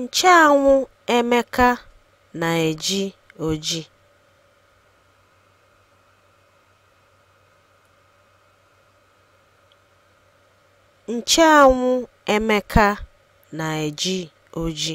Ncheanwụ Emeka na-eji oji. Ncheanwụ Emeka na-eji oji.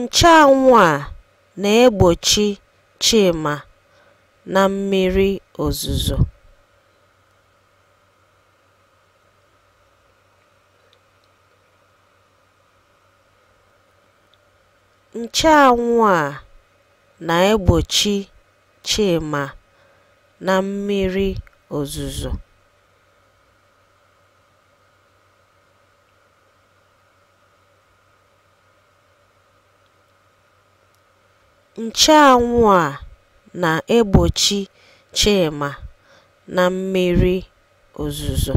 Ncheanwụ a na-egbochi Chima na mmiri ozuzo. Ncheanwụ a na-egbochi Chima na mmiri ozuzo. Ncheanwụ a na-egbochi Chima na mmiri ozuzo.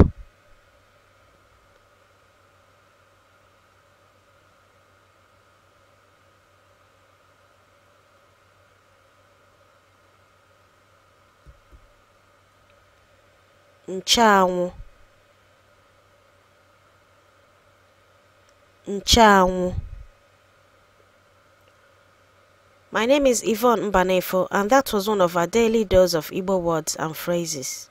ncheanwụ ncheanwụ My name is Yvonne Mbanefo, and that was one of our daily dose of Igbo words and phrases.